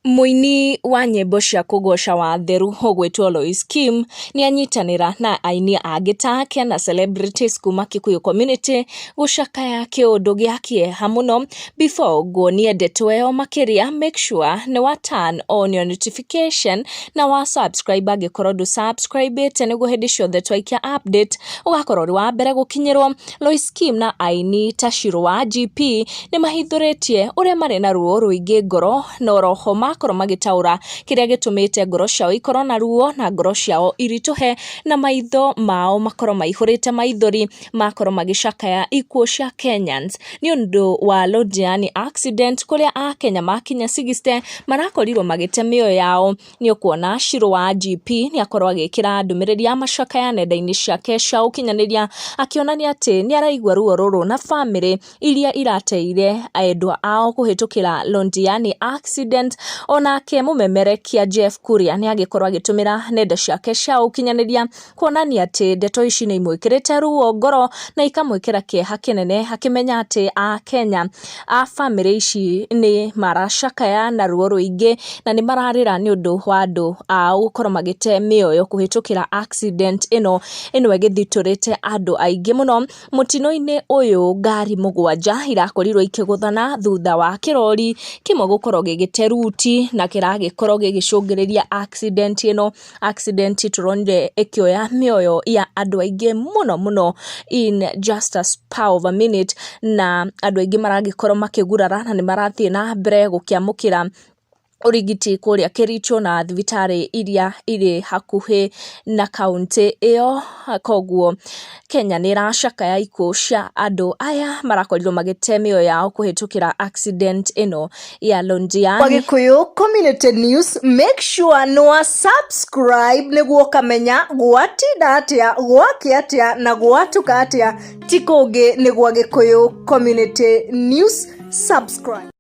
Mũini wa nyĩmbo cia kũgoca Watheru ũgwĩtwo Lois Kim nĩ anyitanĩra na aini angĩ ta ake na celebrities kuma Kikuyu community gũcakaya kĩũndũ gĩa kĩeha mũno before nguonie ndeto ĩyo makĩria make sure nĩ wa turn on your notification na wa subscribe angĩkorwo ndũ subscribĩte nĩguo hĩndĩ ciothe twaikia update ũgakorwo ũrĩ wa mbere gũkinyĩrwo Lois Kim na aini ta Shiro wa GP nĩ mahithũrĩtie ũrĩa marĩ na ruo rũingĩ ngoro na oroho makorwo magĩtaũra kĩrĩa gĩtũmĩte ngoro ciao ikorwo na ruo na ngoro ciao iritũhe na maitho mao makorwo maihũrĩte maithori makorwo magĩcakaya ikuũ cia Kenyans nĩ ũndũ wa Londiani accident kũrĩa akenya makinya sixty marakorirwo magĩte mĩoyo yao nĩ ũkuona Shirũ wa IGP nĩ akorwo agĩkĩra ndũmĩrĩri ya macakaya nenda-inĩ ciake cia ũkinyanĩria, akĩonania atĩ nĩ araigua ruo rũrũ na bamĩrĩ iria irateire endwa ao kũhĩtũkĩra Londiani accident. Onake mũmemerekia Jeff Kuria nĩ agĩkorwo agĩtũmĩra nenda ciake cia ũkinyanĩria. kuonania atĩ ndeto ici nĩ imwĩkĩrĩte ruo ngoro na ikamwĩkĩra kĩeha kĩnene akĩmenya atĩ Akenya a bamĩrĩ ici nĩ maracakaya na ruo rũingĩ na nĩ mararĩra nĩ ũndũ wa andũ ao gũkorwo magĩte mĩoyo kũhĩtũkĩra accident ĩno ĩgĩthitũrĩte andũ aingĩ mũno. Mũtino-inĩ ũyũ ngari mũgwanja irakorirwo ikĩgũthana thutha wa kĩrori kĩmwe gũkorwo gĩgĩte ruti na kĩragĩkorwo gĩgĩcũngĩrĩria accident ĩno. accident tũronire ĩkĩoya mĩoyo ya andũ aingĩ mũno mũno in just a spur of a minute na andũ aingĩ maragĩkorwo makĩgurara na nĩ marathiĩ na mbere gũkĩamũkĩra ũrigiti kũrĩa Kericho na thibitarĩ iria irĩ hakuhĩ na kauntĩ ĩyo, koguo Kenya nĩ ĩracakaya ikuũ cia andũ aya marakorirwo magĩte mĩoyo yao kũhĩtũkĩra accident ĩno ya Londiani. Wagikuyu Community News, make sure nĩ wa subscribe nĩguo ũkamenya gwatinda atĩa, gwake atĩa na gwatuka atĩa, ti kũngĩ nĩ gwa Gĩkũyũ Community News, subscribe.